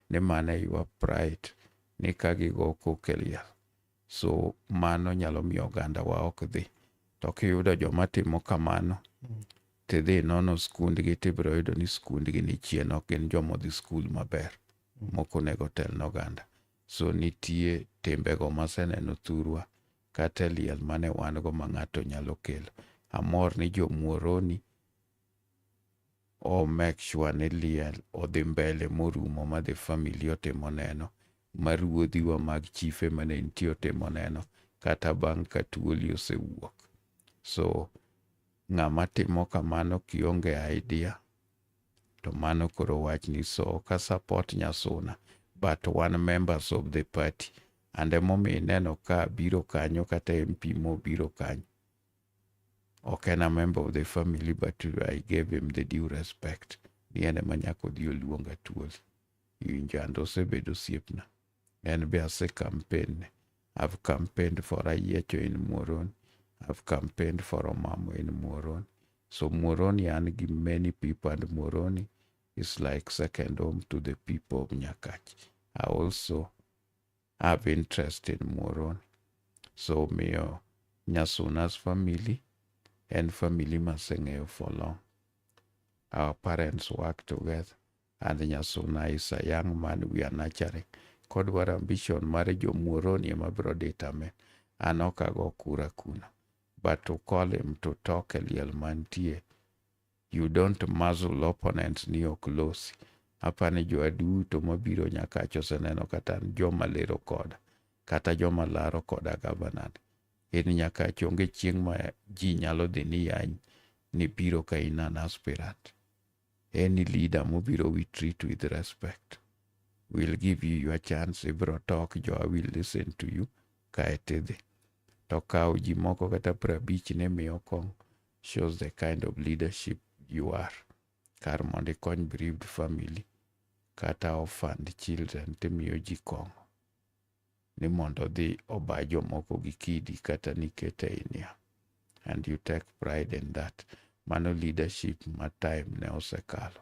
ni mano e your pride ni ka gigo koke liel so mano nyalo miyo oganda wa ok dhi to kiyudo joma timo kamano tidhi nono skundgi tibiro yudo ni skundgi ni chien ok gin joma odhi skul maber moko onego telne oganda so nitie timbego maseneno thurwa kata e liel mane wan go ma ng'ato nyalo kelo amor ni jomuoroni o make sure ni liel odhi mbele morumo ma the family otimo neno, ma ruodhiwa mag chife mane nitie otimo neno kata bang' ka tuoli osewuok. So ng'ama timo kamano kionge idea to mano koro wachni so ok support Nyasuna but wan members of the party and emomiyo ineno ka biro kanyo kata MP mobiro kanyo ok en a member of the family but I gave him the due respect ni en ema nyaka odhi oluonga tuol injando osebedo osiepna en be ase campaign I've campaigned for Ayiecho in Muoron I've campaigned for Omamo in Muoron so Muoroni an gi many people and Muoroni is like second home to the people of Nyakach I also have interest in Muoroni. So miyo Nyasuna's family and family maseng'eyo for long. Our parents work together and Nyasuna is a young man we are nurturing. Kodwar ambition mar jo Muoroni ema biro determine. An ok ago kura kuna. But to call him to talk a liel mantie You don't muzzle opponents ni ok losi. Apani jowa duto mabiro nyakach oseneno kata joma lero koda kata joma laro koda gabanan. In nyakach onge chieng' ma ji nyalo dhi ni yany ni biro ka in an aspirant. Any leader mobiro we treat with respect. We'll give you your chance, ibiro talk, jowa will listen to you, kae tidhi. To kawo ji moko kata prabich ni miyo kong' shows the kind of leadership you are. Kar mondo ikony bereaved family kata orphaned children timiyo ji kong'o ni mondo odhi oba jomoko gi kidi kata nikete ei niang'. And you take pride in that. Mano leadership ma time ne osekalo.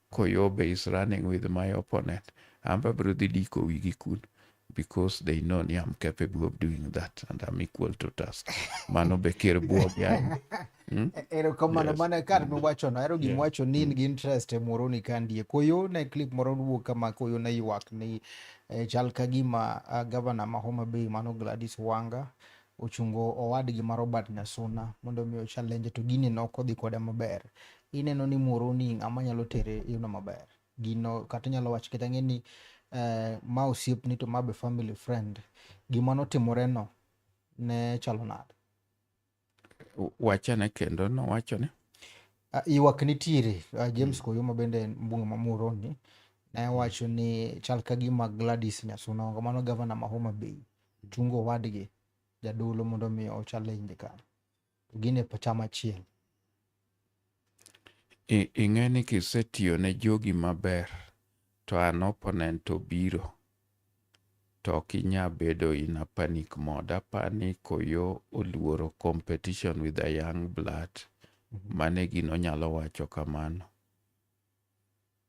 Koyobe is running with my opponent. Amba abiro dhi diko wigi kun because they know ni I'm capable of doing that and I'm equal to task. Mano be ker buog yaye. Hmm? E-, erokamano yes. mana kar hmm. miwachono ahero gima yeah. wacho ni in hmm. gi interest e moro ni kandie koyo ne clip moro wuok kama koyo ne ywak ni eh, chal ka gima uh, ah, gavana ma Homa Bay mano Gladys Wanga ochungo owadgi ma Robert Nyasuna mondo mi ochalenje to gini ne ok odhi kode maber. Ineno ni Muhoroni ng'ama nyalo tere yudo maber. Gino kata inyalo wacho kata ng'e ni eh, ma osiepni to ma be family friend. Gima notimoreno ne chalo nade? Wachane kendo nowacho ni Ah, Ywak nitiere. Ah, James mm. Koyoma bende en mbunge ma Muhoroni ne wacho ni chal ka gima Gladys Nyasuna Onga mano gavana ma Homa Bay ochungo owadgi jadolo mondo mi o challenge ka to gin e chama achiel ing'e ni kisetiyo ne jogi maber to an opponent obiro to ok inya bedo in a panic mode apani koyo oluoro competition with a young blood mhm. mane gino nyalo wacho kamano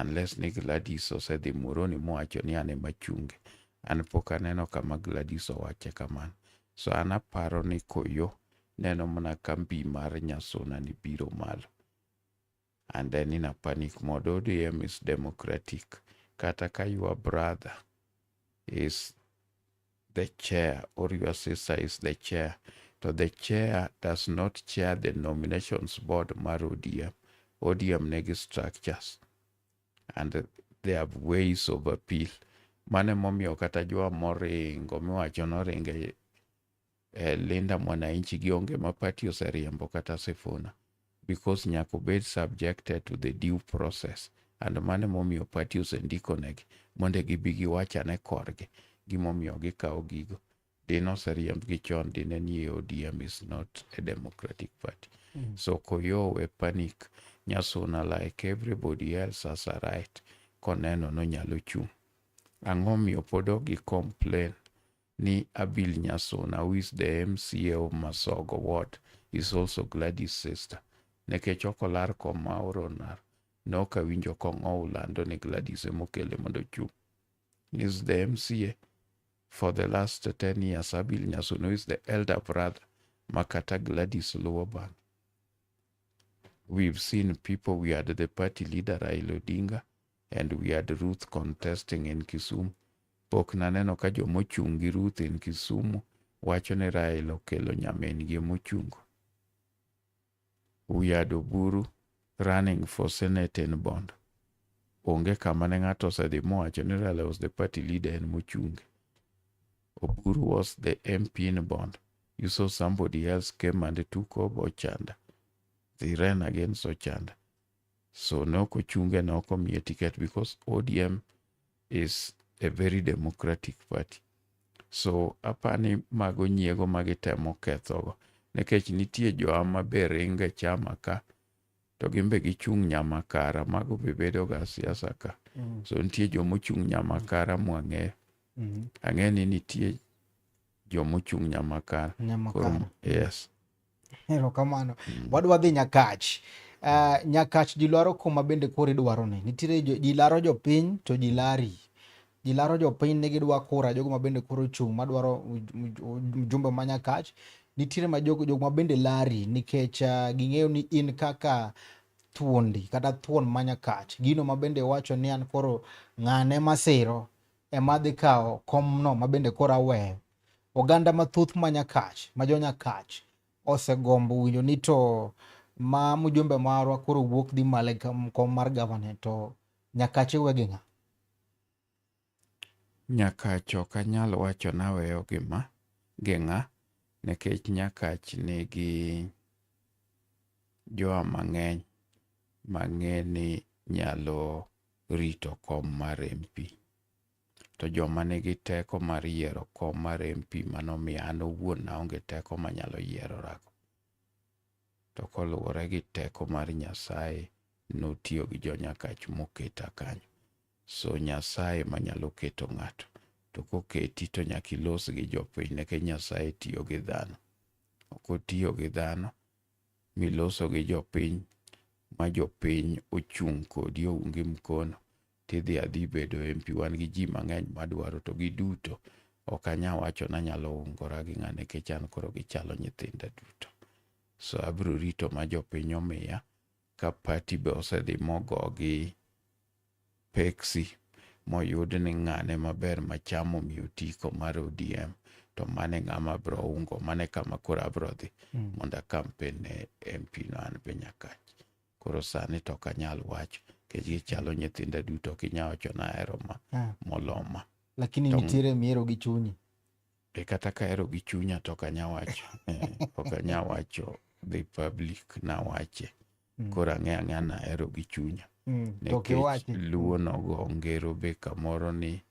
Unless ni Gladys osedhi Muhoroni mowacho ni an ema chunge. An pok aneno kama Gladys owache kamano. So an aparo ni Koyo neno mana ka mbi mar Nyasuna ni biro malo. And then in a panic mode, ODM is democratic. Kata ka your brother is the chair or your sister is the chair to the chair does not chair the nominations board mar ODM. ODM negi structures and they have ways of appeal. Mane momiyo kata jwa moringo miwacho noringe eh, Linda Mwananchi gionge ma party oseriembo kata Sifuna. because nyaka obed subjected to the due process and mano emomiyo party osendikonegi mondo gibi giwach ane korgi gimomiyo gikawo gigo dine oseriembgi chon dine nie ODM is not a democratic party mm. so koyowe panic Nyasuna like everybody else has a right koneno nonyalo chung' ang'o miyo pod ok gi complain ni Abil Nyasuna who is the MCA of Masogo ward is also Gladys sister. Nekech ok olar kom ma oronar, ne ok awinjo kong'ow lando ni Gladys emokele mondo ochung'. Is the MCA for the last 10 years Abil Nyasuna who is the elder brother ma kata Gladys luwo bang'. We've seen people we had the party leader Raila Odinga and we had Ruth contesting in Kisumu. Pok naneno ka joma ochung' gi Ruth in Kisumu wacho ni Raila okelo nyamin gi mochungo. We had Oburu running for Senate in Bondo. Onge kama ne ng'ato osedhi mowacho ni Raila was the party leader in Muchungi. Oburu was the MP in Bondo. You saw somebody else came and took over Ochanda. They ran against Ochanda. So ne ok ochunge, ne ok omiye ticket because ODM is a very democratic party. So apani mago nyiego ma gitemo kethogo nikech nitie joa maber ringo e chama ka to gin be gichung' nyamakara mago be bedoga siasa ka mm. so nitie joma ochung' nyamakara mwang'eyo mm. ang'e ni nitie joma ochung' nyamakara yes Erokamano. Mm. Wadwa dhi Nyakach. Uh, nyakach ji lwaro kuma bende koro idwaro ni. Nitiere ji laro jopiny to ji lari. Ji laro jopiny ne gidwa kura jogo ma bende koro chung' madwaro mjumbe ma Nyakach. Nitiere ma jogo jogo ma bende lari nikech uh, ging'eyo ni in kaka thuondi kata thuon ma Nyakach. Gino ma bende wacho ni an koro ng'ane masiro ema dhi kawo komno ma bende koro aweyo. Oganda mathoth ma Nyakach, ma jo Nyakach osegombo winjo ni to ma mjumbe marwa koro wuok dhi malo e kom mar governor to Nyakach iwe gi ng'a? Nyakach ok anyal wacho naweyo gi ma gi ng'a nikech Nyakach nigi jowa mang'eny mang'e ni nyalo rito kom mar MP. To joma nigi teko mar yiero kom mar MP ma nomiya an owuon naonge teko manyalo yiero-rago. To koluwore gi teko mar Nyasaye, notiyo gi jo-Nyakach moketa kanyo. So Nyasaye manyalo keto ng'ato, to koketi to nyaka ilos gi jopiny nikech Nyasaye tiyo gi dhano. Ok otiyo gi dhano miloso gi jopiny ma jopiny ochung' kodi oungi mkono tidhi adhi bedo MP, wan gi ji mang'eny madwaro to giduto ok anya wacho nanyalo ungora gi ng'a nikech an koro gichalo nyithinda duto. So abiro rito ma jopiny omiya ka pati be osedhi mogo gi peksi moyud ni ng'ane maber machamo miyo tiko mar ODM to mane ng'ama bro ungo mane kama koro abro dhi mm. mondo akampen ne MP no an be nyakach. koro sani to ok anyal wacho nikech gichalo nyithinda duto ok inyal wacho ni ahero ma Ah. moloma lakini Tong- nitiere mihero gi chunyi e kata ka ahero gi chunya to ok anyal wacho Eh, ok anyal wacho dhi public nawache Mm. koro ang'e ang'e ni ahero gi chunya Mm, to nikech kiwachi luo nogo ngero be kamoro ni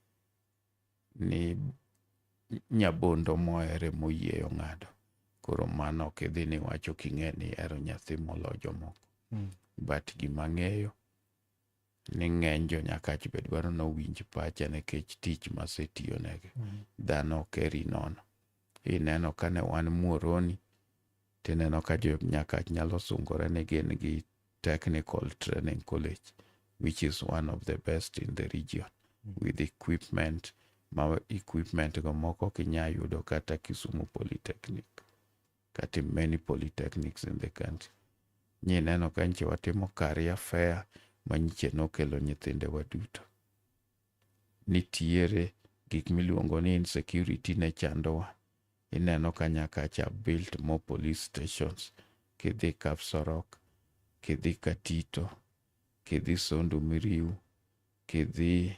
ni nyabondo mohere moyieyo ng'ado koro mano ok idhi ni wacho king'e ni ero nyathi molo jomoko mm. but gima ng'eyo ni ng'eny jo nyakach be dwaro ni owinj pacha nikech tich masetiyonegi mm. dhano ok eri nono ineno kane wan muoroni Tineno ka jo Nyakach nyalo sungore ni gin gi Technical Training College which is one of the best in the region with equipment ma equipment go moko kinya yudo kata Kisumu Polytechnic kata many polytechnics in the country. Nyi neno ka nyiche watimo career fair ma nyiche nokelo nyithindewa duto. nitiere gik miluongo ni insecurity ne chandowa. Ineno ka nyaka cha built more police stations, kidhi Kapsorok, kidhi Katito, kidhi Sondu Miriu, kidhi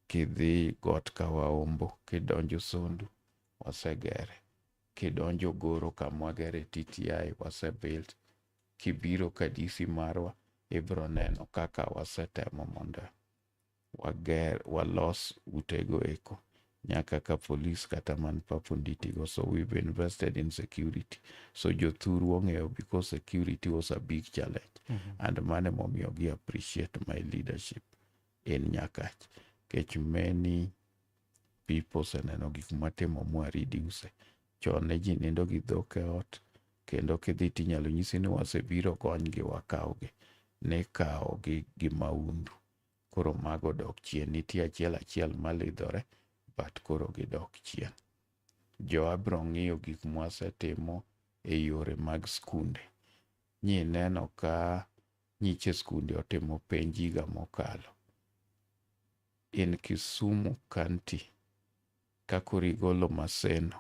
kidhi got Kawaombo, kidonjo Sondu, wasegere. Kidonjo Goro kamwagere TTI, wasebuilt. kibiro ka DC marwa ibiro neno kaka wasetemo mondo wager walos utego eko nyaka ka police kata man papo nditigo so we've invested in security so jothuru ong'eyo because security was a big challenge mm -hmm. and mane momiyo gi appreciate my leadership in nyakach kech many people seneno gik matimo mwa reduce Chon ne ji nindo gi dhok e ot, kendo kidhi tinyalo nyisi ni wasebiro konygi wakawgi. Nikawogi gi maundu. Koro mago dok chien. Nitie achiel achiel malidhore, but koro gidok chien. Joa biro ng'iyo gik mwasetimo e yore mag skunde. Nyi neno ka nyiche skunde otimo penj higa mokalo. In Kisumu County, Ka koro igolo Maseno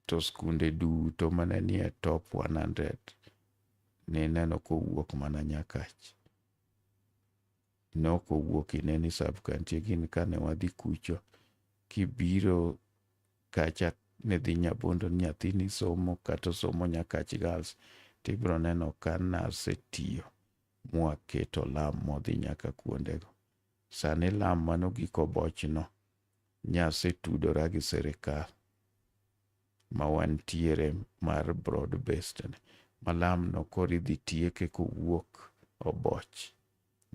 to skunde duto mane nie top 100 nineno kowuok mana Nyakach. Ne ok owuok Ineni sub county gin kane wadhi kucho kibiro kacha ne dhi Nyabondo ni nyathini somo kata osomo Nyakach Girls to ibiro neno ka nasetiyo mwaketo lam modhi nyaka kuondego. Sani lam mano giko bochno. Nyase tudora gi sirikal ma wantiere mar broad based ni. Malamno koro idhi tieke kowuok Oboch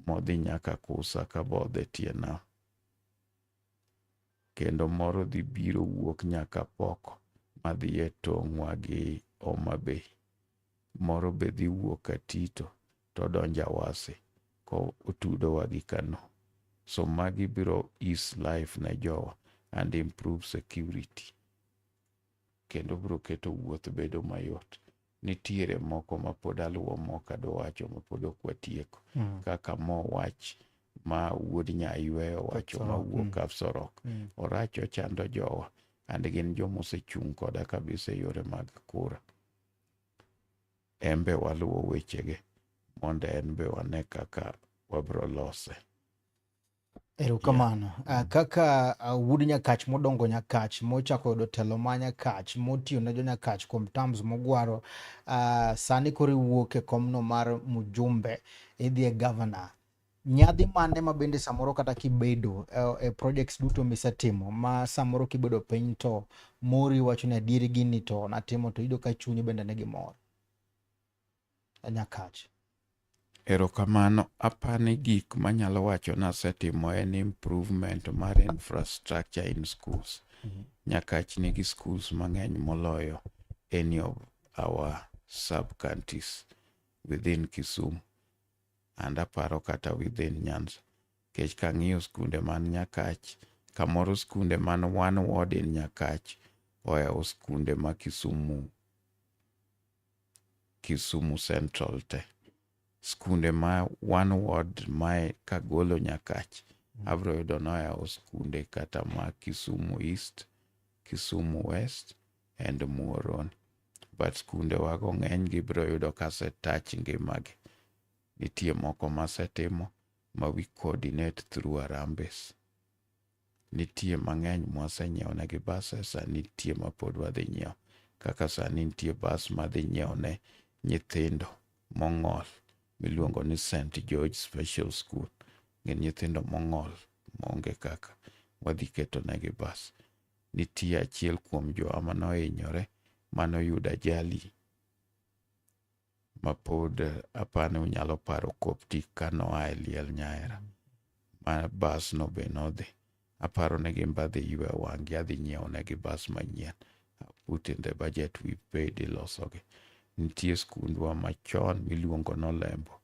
modhi nyaka Kusa ka bodhe tie nam. kendo moro dhi biro wuok nyaka pok madhi e tong'wa gi Homa Bay. Moro be dhi wuok Katito to odonjo Awasi ko otudowa gi Kano. So magi biro ease life ne jowa and improve security kendo biro keto wuoth bedo mayot. nitiere moko ma pod aluwo mok adowacho ma pod ok watieko mm. kaka mo wach ma wuod nyaywe owacho ma wuok mm. Kapsorok mm. orach ochando jowa and gin joma osechung' koda kabisa e yore mag kura embe waluwo wechege mondo en be wane kaka wabro lose Erokamano. Yeah. Uh, kaka uh, wuod Nyakach modongo Nyakach mochako yudo telo ma Nyakach motiyo ne jo Nyakach kuom terms mogwaro uh, sani koro iwuok e komno mar mjumbe idhi e governor. Nyadhi mane ma bende samoro kata kibedo uh, e projects duto misetimo ma samoro kibedo piny to mori wacho ni adieri gini to natimo to iyudo ka chunyi bende ne gimor. e Nyakach. Erokamano, apani gik manyalo wacho nasetimo en improvement mar infrastructure in schools. Mhm. Nyakach nigi schools mang'eny moloyo any of our sub counties within Kisumu and aparo kata within Nyanza. Kech kang'iyo skunde man Nyakach, kamoro skunde man one ward in Nyakach oyawo skunde ma Kisumu Kisumu Central te. Skunde ma one ward mae Kagolo Nyakach, mm. abiro yudo noyawo skunde kata ma Kisumu East, Kisumu West and Muhoroni. But skunde wago ng'eny gibiro yudo kase touch ngimagi. Nitie moko masetimo ma we coordinate through Arambe's. Nitie mang'eny mwasenyiewonegi bas e sa nitie mapod wadhi nyiewo. Kaka sani nitie bas madhi nyiewone nyithindo mong'ol miluongo ni St. George Special School. Gin nyithindo mong'ol maonge kaka wadhi ketonegi bas. Nitie achiel kuom jowa manohinyore manoyudo ajali mapod apani unyalo paro Coptic ka noa e liel nyaera ma bas no be nodhi aparo ne gin badhi ywe wang'gi adhi nyiewo ne gi bas manyien put in the budget we paid ilosogi nitie skundwa machon miluongo nolembo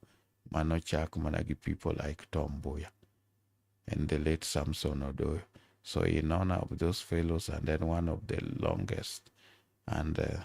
mano chak mana gi people like Tom Mbuya and the late Samson Odoyo so in honor of those fellows and then one of the longest and uh,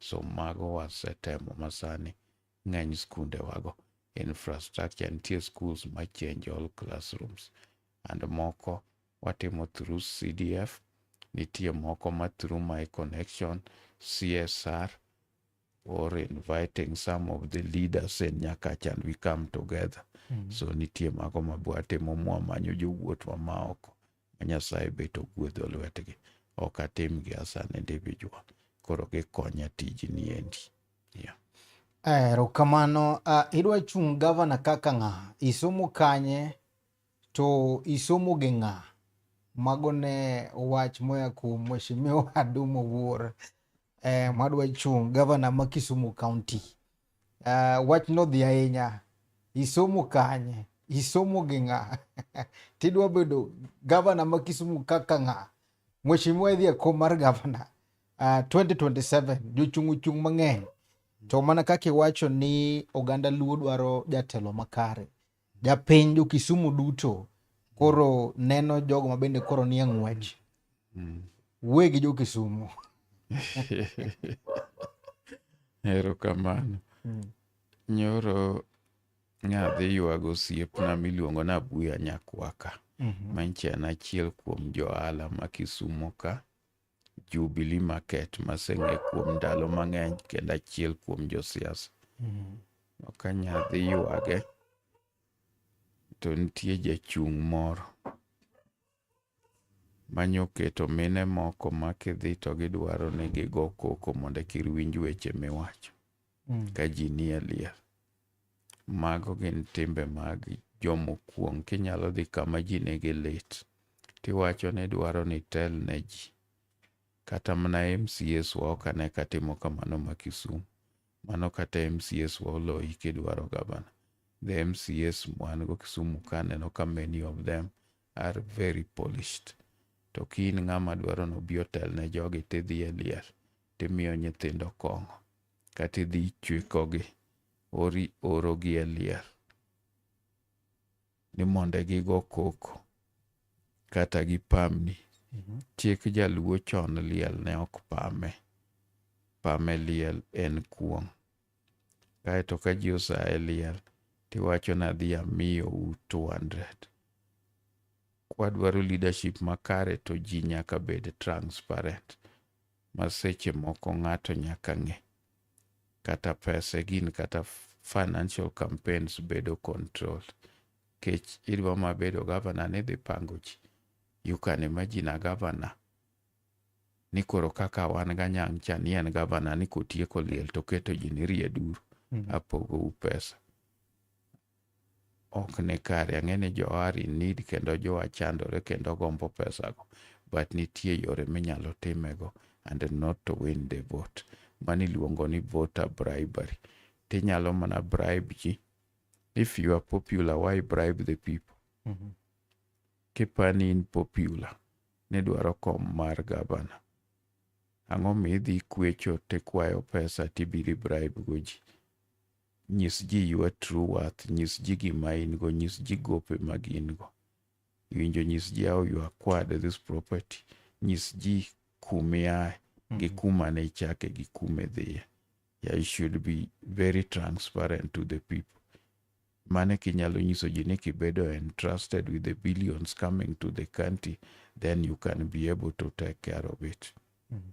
So mago wasetemo masani ng'eny skunde wago. Infrastructure nitie schools ma change all classrooms and moko watimo through CDF, nitie moko ma through my connection, CSR or inviting some of the leaders in Nyakacha and we come together. Mm -hmm. So nitie mago ma bwatimo mwamanyo jowuotwa ma oko ma Nyasaye bet ogwedho lwetgi. Ok atimgi asa ne Davidwa, koro gikonya tijni endi. Yeah. Ero kamano, uh, idwa chung' gavana kaka ng'a? Isomo kanye? To isomo gi ng'a? Mago ne wach moya kuom Mheshimiwa Adumo Wuor. eh, mwadwa chung' gavana ma Kisumu County uh, wach nodhi ahinya isomo kanye isomo gi ng'a tidwa bedo gavana ma Kisumu kaka ng'a mheshimiwa idhi e kom mar gavana uh, ah, 2027 jochung' ochung' mang'eny to mana kaka iwacho ni oganda luo dwaro jatelo makare Japiny jo Kisumu duto koro neno jogo ma bende koro nie ng'wech. Mm. Wuoye gi jo Kisumu. Erokamano. Mm. Nyoro nadhi ywago osiepna miluongo ni Abuya Nyakwaka. Mm -hmm. Manyicha en achiel kuom johala ma Kisumo ka. Jubilee Market maseng'e kuom ndalo mang'eny kendo achiel kuom josiasa. Ok anya dhi ywage to nitie jachung' moro manyoketo mine moko ma kidhi to gidwaro ni gigo koko mondo ekir winj weche miwacho ka ji nie liel. Mago gin timbe mag jomokuong'. Kinyalo dhi kama ji nigi lit, tiwacho ni dwaro ni tel ne ji. Kata mana MCS wa ok ane ka timo kamano ma Kisumu. Mano kata MCS wa oloyi kidwaro gavana. The MCS wan go Kisumu ka aneno ka many of them are very polished. To ka in ng'ama dwaro ni obi otel ne jogi tidhi e liel, timiyo nyithindo kong'o. Kata idhi ichwikogi, ori orogi e liel ni mondo gigo koko kata gipamni. Mhm. Chik jaluo chon liel ne ok pame. Pame liel en kuong'. Kaeto ka ji osaye liel tiwacho ni adhi amiyo u 200. Kwadwaro leadership makare to ji nyaka bed transparent. ma seche moko ng'ato nyaka ng'e. Kata pese gin kata financial campaigns bedo control. Kech idwa ma bedo gavana ni dhi pango ji. You can imagine a governor ni koro kaka wan ganyang' cha ni en gavana ni kotieko liel to keto ji ni rieduru mm. apogou pesa. ok ni kare. Ang'e ni jo are in need kendo jo chandore kendo gombo pesa go. But nitie yore minyalo timego and not to win the vote. Mano iluongo ni voter bribery. Tinyalo mana bribe ji. If you are popular, why bribe the people? Mm -hmm. Kipani in popular, nidwaro kom mar gavana. Ang'o mi idhi kwecho tikwayo pesa tibiri bribe go ji? Nyis ji your true worth. Nyis ji gima in go. Nyis ji gope mag in go. Iwinjo nyis ji how you acquired this property. Nyis ji kumiae gi mm-hmm. kuma ne ichake gi kuma idhiye. Yeah, you should be very transparent to the people. Mane kinyalo nyiso ji ni kibedo entrusted with the billions coming to the country, then you can be able to take care of it. Mm -hmm.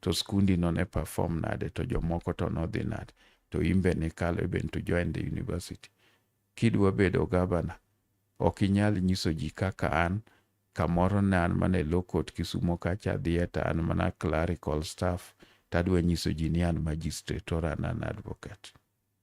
to skundi no ne perform nade to jomoko to nodhi nade to imbe nikalo even to join the university kidwa bedo gavana ok inyal nyiso ji kaka an kamoro ne an mana e low court kisumo kacha adhiye to an mana clerical staff tadwa nyiso ji ni an magistrate or an an advocate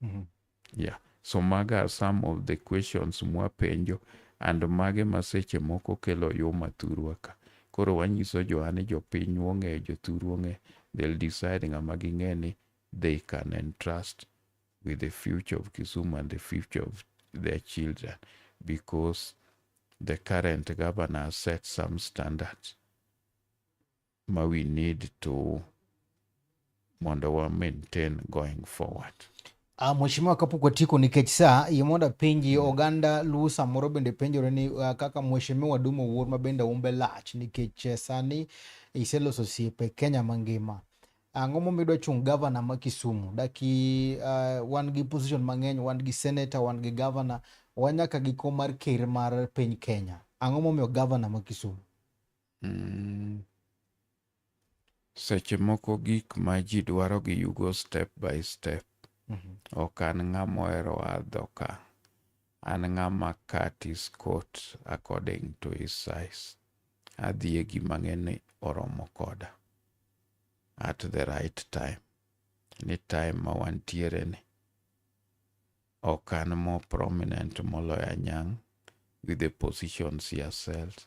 mm -hmm. yeah so maga are some of the questions mwapenjo and mage ma seche moko kelo yuma thurwa ka koro wanyiso johane jopiny wong'eyo jothur wong'e they'll decide ng'ama ging'e ni they can entrust with the future of Kisumu and the future of their children because the current governor set some standards. ma we need to mondo wa maintain going forward. Uh, Mheshimiwa kapok watieko nikech saa yie mondo apenji mm. oganda Luo samoro bende penjore ni uh, kaka Mheshimiwa Duma Owuor ma bende umbe lach nikech eh, sani iseloso osiepe Kenya mangima ang'o momiyo idwa chung' gavana ma Kisumu daki uh, wan gi position mang'eny wan gi senator wan gi gavana wanyaka gi kom mar ker mar piny Kenya ang'o momiyo gavana ma Kisumu Mm. Seche moko gik ma ji dwaro gi yugo step by step. Mm -hmm. Ok an ng'ama ohero adho ka. An ng'ama cut is coat according to his size. Adhi e gima ng'eni oromo koda at the right time. Ni time ma wantiere ni ok an more prominent moloyo anyang' with the positions he has held.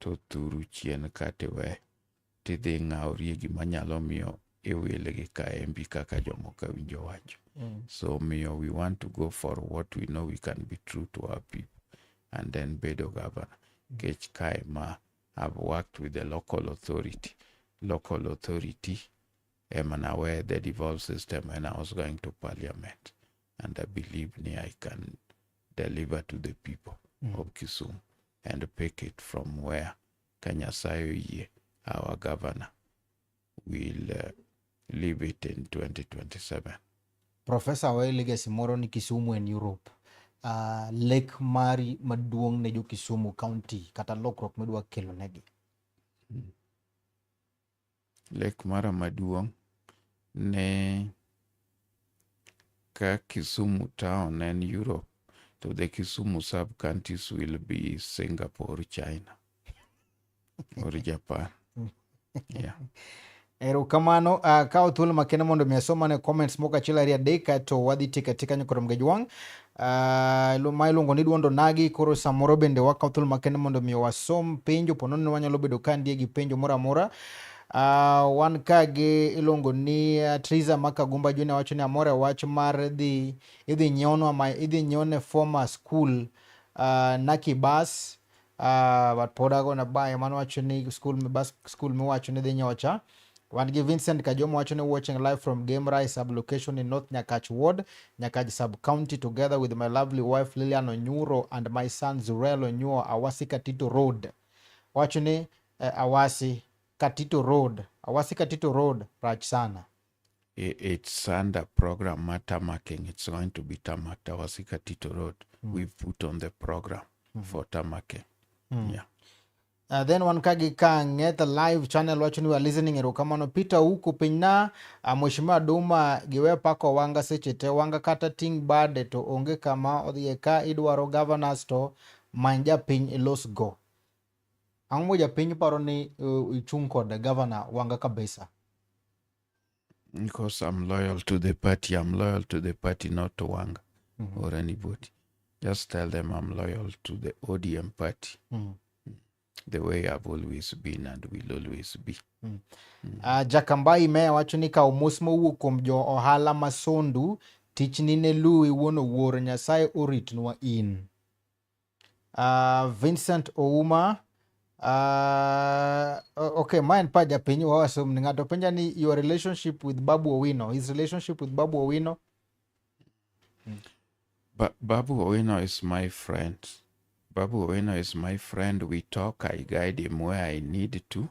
to thuru chien ka tiwe tidhi ng'awrie gima nyalo miyo iwil gi kaembi kaka jomoko winjo wacho mm. so miyo we want to go for what we know we can be true to our people and then bedo governor kech kae ma I've worked with the local authority local authority emana where the devolved system and I was going to parliament and I believe me I can deliver to the people mm. of Kisumu and pick it from where Kanyasayo Ye, our governor, will uh, leave it in 2027. Professor, we legacy moro ni Kisumu and Europe. Uh, lake mari maduong' ne jo Kisumu County kata lokruok midwa kelo negi. Mm. Lek mara maduong' ne ka Kisumu town en Europe to the Kisumu sub counties will be Singapore, China or Japan. Yeah. Erokamano uh, ah, kawo thuolo makende mondo mi asomane comments moko achiel ariyo adek to wadhi tika tika nyakoro mgejwang' Uh, ma iluongo ni duondo nagi koro samoro bende wakaw thuolo makende mondo mi wasom penjo pono ni wanyalo bedo ka ndie gi penjo moro amora uh, wan ka gi iluongo ni uh, Triza Makagumba Junior wacho ni amore wach mar dhi idhi nyiewno ma idhi nyiewne former school uh, Naki bus Uh, but pod ago na bayo mano wacho ni school me bas school me wacho ni dhi nyocha wan gi Vincent Kajomo wacho ni watching live from Game Rise sub location in North Nyakach Ward, Nyakach sub county together with my lovely wife Lilian Onyuro and my son Zurel Onyuo Awasi Katito Road. Wacho ni eh, Awasi Katito Road, Awasi Katito Road rach sana. it's under program ma tamaking it's going to be tamak tawasika tito road mm. we put on the program mm. for tamaking mm. yeah Uh, then wan ka gi kange the live channel wacho ni wa listening erokamano peter huku piny na uh, mheshimiwa duma giwe pako wanga seche te wanga kata ting bade to onge kama odhiye ka idwaro governors to many japiny ilos go Ang'o moja piny paro ni uh, ichung' kod gavana Wanga Kabisa? Because I'm loyal to the party. I'm loyal to the party, not to Wanga mm -hmm. or anybody. Just tell them I'm loyal to the ODM party. Mm -hmm. The way I've always been and will always be. Mm. Mm. Uh, ah, Jakambai meya wacho ni ka omos mowuok kuom jo ohala masondu tichni ne luwi wuon owuor Nyasaye oritnwa in. uh, Vincent Ouma uh, okay ma en pa japiny wawasom ni ng'ato penja ni your relationship with Babu Owino his relationship with Babu Owino ba Babu Owino is my friend Babu Owino is my friend we talk I guide him where I need to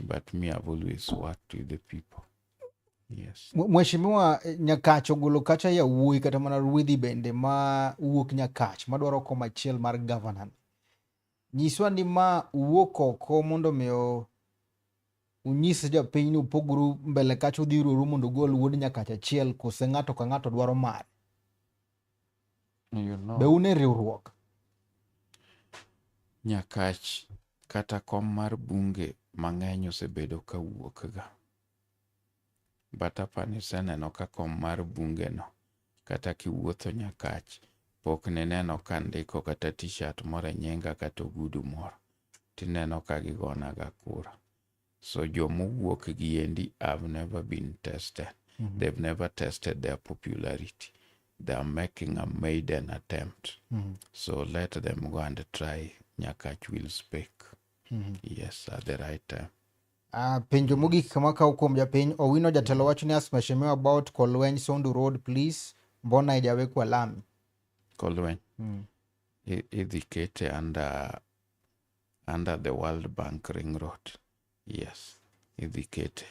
But me, I've always worked with the people. Yes. Mheshimiwa eh, Nyakach ogolo kacha yawuoyi kata mana ruedhi bende ma wuok Nyakach madwaro kom achiel mar governor. Nyiswa ni ma wuok oko mondo mi unyis jopiny ni upogru mbele kacha udhi ruoru mondo ugol wuod Nyakach achiel kose ng'ato ka ng'ato dwaro mare. You know. Be une riwruok? Nyakach kata kom mar bunge mang'eny osebedo ka wuokga. But apani useneno ka kom mar bungeno kata kiwuotho Nyakach pok nineno ka ndiko kata t-shirt moro e nyinga kata ogudu moro tineno ka gigonaga kura. So jomowuok gi endi have never been tested. Mm -hmm. They've never tested their popularity. They are making a maiden attempt. Mm -hmm. So let them go and try Nyakach will speak. Mm -hmm. Yes, at the right time. Uh, penjo mogik kama kaw kuom japiny Owino jatelo wacho ni as mheshimiwa about Kolweny Sondu Road please mbona ijawekwa lami Kolweny mm. idhi kete under under the World Bank Ring Road. Yes, idhi kete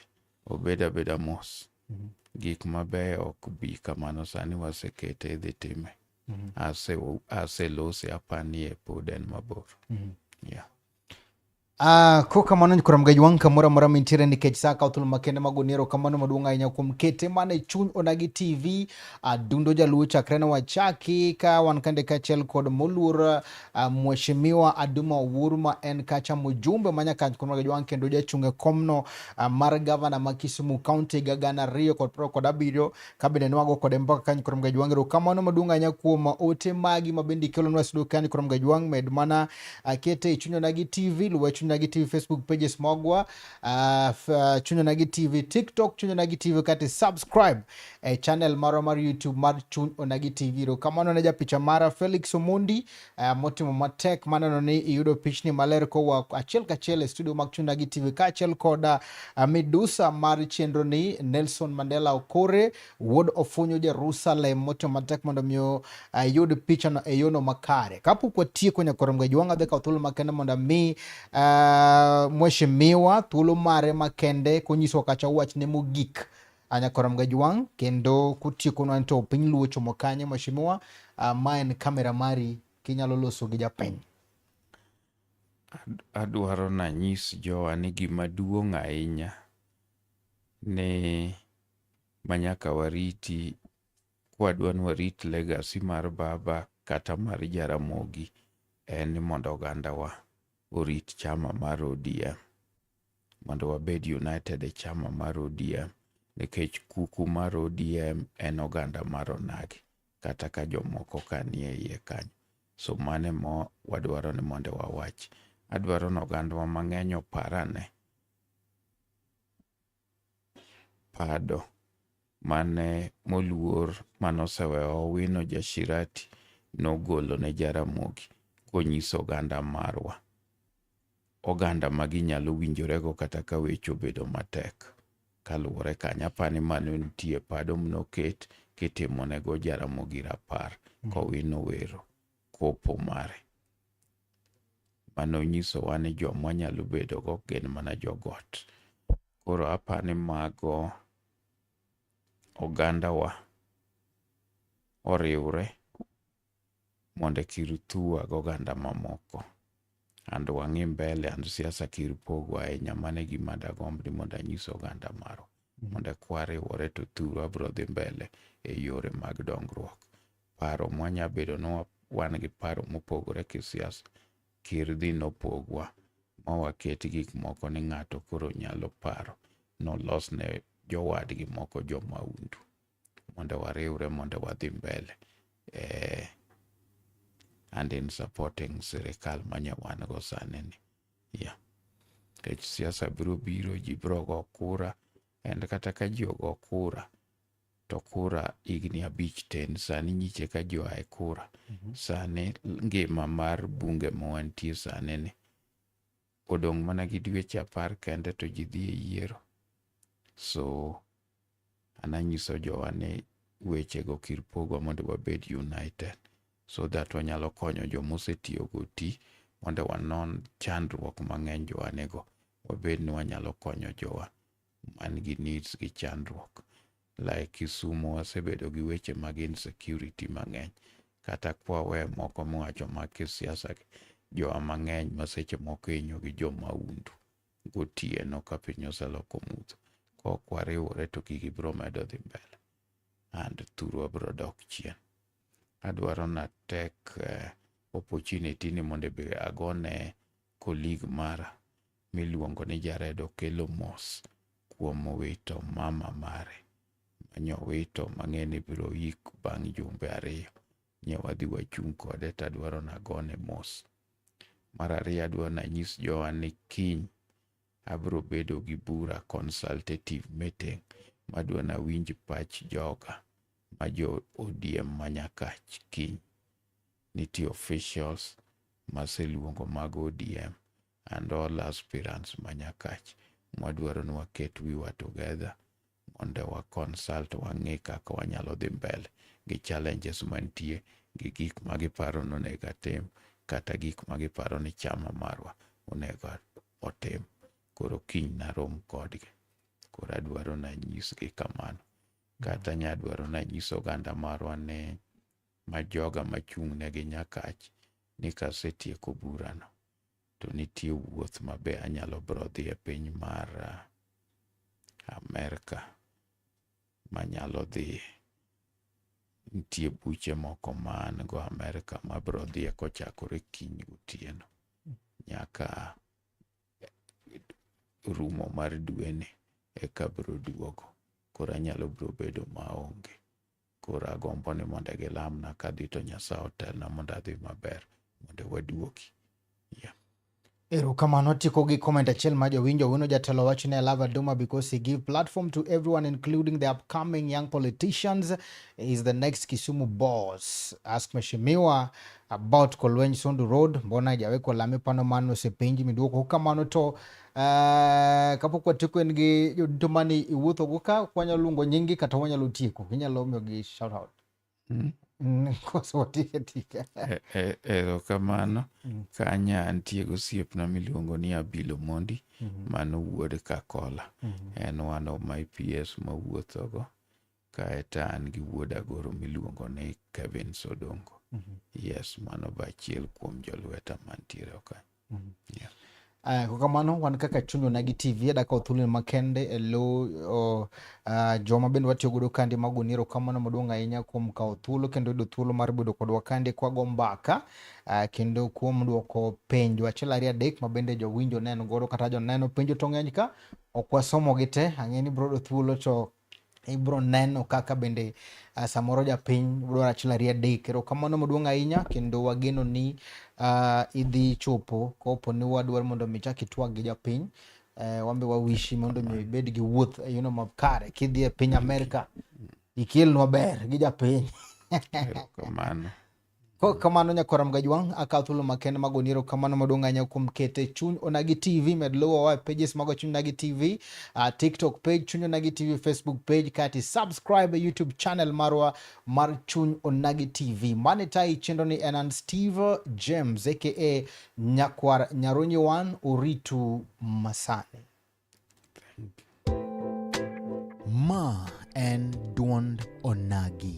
obed abeda mos. Mm -hmm. Gik mabeyo ok bi kamano sani wasekete idhi time. Mm -hmm. Ase aselose apanie pod en mabor. Mm -hmm. Yeah. Uh, ah, ko kamano nyikora mgej wang' kamoro amora mintiere nikech sa kawo thuolo makende mag oniero kamano maduong' ahinya kuom kete mane chuny onagi tv adundo ah, jaluo chakre ne wachaki ka wan kande kaachiel kod moluor uh, Mheshimiwa Aduma Owuru ma en kacha mjumbe ma Nyakach kuom Ragajwang' kendo jachung' e komno uh, mar gavana ma Kisumu County ga gana ariyo kod piero kod abiriyo kabende nwago kode mpaka kanyo kuom Ragajwang' erokamano maduong' ahinya kuom ote magi ma bende ikelonwa studio kanyo kuom Ragajwang' med mana uh, kete e chunyona gi TV luwe chunyona gi TV Facebook pages magwa uh, chunyona gi TV TikTok chunyona gi TV kati subscribe e channel mara mar YouTube mar Chuny Onagi TV. Kamano ne japicha mara Felix Omondi uh, motimo matek maneno ni iyudo pichni maler kowa achiel kachiel e studio mag Chuny Onagi TV kaachiel koda uh, midusa mar chenro ni Nelson Mandela Okore wuod Ofunyo Jerusalem motimo matek mondo mi uh, yud uh, pichano e yono makare. Kapok watieko nyaka romga jwanga dhika thuolo makende mondo mi uh, mheshimiwa thuolo mare makende konyiso kacha wachne mogik Anyakora Mgajwang kendo kutieko nwan to piny luo chomo kanye mheshimiwa uh, ma en kamera mari kinyalo loso gi japiny adwaro nanyis jowa ni gima duong' ahinya ni manyaka wariti kwadwa ni warit legacy mar baba kata mar Jaramogi en ni mondo ogandawa orit chama mar ODM. mondo wabed united e chama mar ODM nikech kuku mar ODM en oganda mar onagi kata ka jomoko ka nie iye kanyo. So mane mo wadwaro ni mondo wawach. Adwaro ni ogandwa mang'eny oparane. Pado mane moluor manosewewa Owino Jashirati nogolo ne Jaramogi konyiso oganda marwa, oganda ma ginyalo winjorego kata ka weche obedo matek. Kaluwore kanyo apani mano nitie pado mnoket kitimonego Jaramogi Rapar kowino wero kopo mare. Mano nyisowa ni jomwa nyalo bedogo gin mana jogot. Koro apani mago ogandawa oriwre mondo kir thua gi oganda mamoko and wang'i mbele and siasa kir pogo ahinya mane gima dagomb ni mondo anyis oganda maro mondo kwa riwore to thuru abro dhi mbele e yore mag dongruok paro mwanya bedo ni wan gi paro mopogore kisiasa Kirdi nopogwa ma waket gik moko ni ng'ato koro nyalo paro nolos ne jowadgi moko jo maundu mondo wariwre mondo wadhi mbele eh, and in supporting sirikal manyawan go sani ni yeah. Nikech siasa biro biro ji biro go kura and kata ka ji ogo kura to kura higni abich ten sani nyiche ka joa e kura mhm. sani ngima mar bunge ma wantie sani ni odong' mana gi dweche apar kende to ji dhi e yiero so an anyiso jowa ni wechego kir pogwa mondo wabed united so that wanyalo konyo joma osetiyogo ti mondo wanon chandruok mang'eny jowanego wabed ni wanyalo konyo jowa man gi needs gi chandruok. Like Kisumu wasebedo gi weche mag insecurity mang'eny. Kata kwawe moko mwacho mag kisiasa jowa mang'eny ma seche moko inyo gi jo maundu gotieno ka piny oseloko mudho. Kok wariwore to gigi biro medo dhi mbele and thurwa biro dok chien. Adwaro na tek uh, opportunity ni mondo be agone Colleague mara miluongo ni Jared okelo mos kuom wito mama mare manyowito mang'eni biro yik bang' jumbe ariyo. Nyawadhi wachung' kode tadwaro nagone mos. Mar ariyo adwaro nanyis jowa ni kiny abiro bedo gi bura consultative meeting madwa nawinj pach joga ma jo ODM manyakach kiny. nitie officials maseluongo mag ODM and all aspirants ma Nyakach mwadwaro ni waket wiwa together mondo wa consult wang'e kaka wanyalo dhi mbele gi challenges mantie gi gik ma giparo ni onego atim kata gik ma giparo ni chama marwa onego otim. Koro kiny narom kodgi. Koro adwaro nanyisgi kamano. Kata nyadwaro nanyis oganda marwa ni ma joga machung'negi Nyakach ni kasetieko burano to nitie wuoth ma be anyalo bro dhi e piny mar ah, Amerka manyalo dhi nitie buche moko man go Amerka ma bro dhiye kochakore kiny gotieno nyaka rumo mar dweni eka bro duogo koro anyalo bro bedo maonge Koro agombo ni mondo gilamna kadhi to Nyasaye otelna mondo adhi maber mondo waduoki. Yeah. Erokamano tieko gi comment achiel ma jowinjo wino jatelo wacho ni I love Adoma because he give platform to everyone including the upcoming young politicians he is the next Kisumu boss ask Mheshimiwa about Kolweny Sondu Road mbona hajawekwa lami pano mano osepenji miduoko kamano to Uh, kapok watieko en gi jodito mani iwuothogo ka ok wanyalo luongo nyinggi kata wanyalo tieko inyalo miyogi shout out mm. E, e, erokamano mm. kanya nitie gosiepna miluongo ni abilo mondi mm-hmm. mano wuod kakola mm-hmm. en one of my ps mawuothogo Kae to an gi wuod agoro miluongo ni Kevin Sodongo. Mm -hmm. Yes, mano ba achiel kuom jolweta mantiere okany. Mm -hmm. yeah. Uh, kwa kamano wan kaka chunywa nagi tv adaka othulen makende e lo uh, uh, joma bende watiyo godo kandi mago ni erokamano maduong' ahinya kuom kawo thuolo kendo yudo thuolo mar bedo kodwa kandi kwago mbaka uh, kendo kuom dwoko penjo achiel ariyo adek ma bende jowinjo neno godo kata joneno penjo to ng'eny ka ok wasomogi te ang'e ni brodo thuolo to ibro neno kaka bende uh, samoro japiny dwaro achiel ariyo adek. Erokamano maduong' ahinya kendo wageno ni uh, idhi chopo kopo ni wadwaro mondo mi chak itwag gi japiny uh, wambe wawishi mondo mi ibed gi wuoth e yono makare kidhi e piny Amerka ikelnwa ber gi japiny. Erokamano. Kok kamano nyakwar Mgajwang' akawo thuolo makende mag oniero kamano maduong' ahinya kuom kete chuny Onagi TV med luwo wa pages mago chuny Onagi TV uh, TikTok page chuny Onagi TV Facebook page kati subscribe e YouTube channel marwa mar chuny Onagi TV mane tai chenro ni en an Steve James aka nyakwar Nyarunyi wan uritu masani Ma en dwond onagi.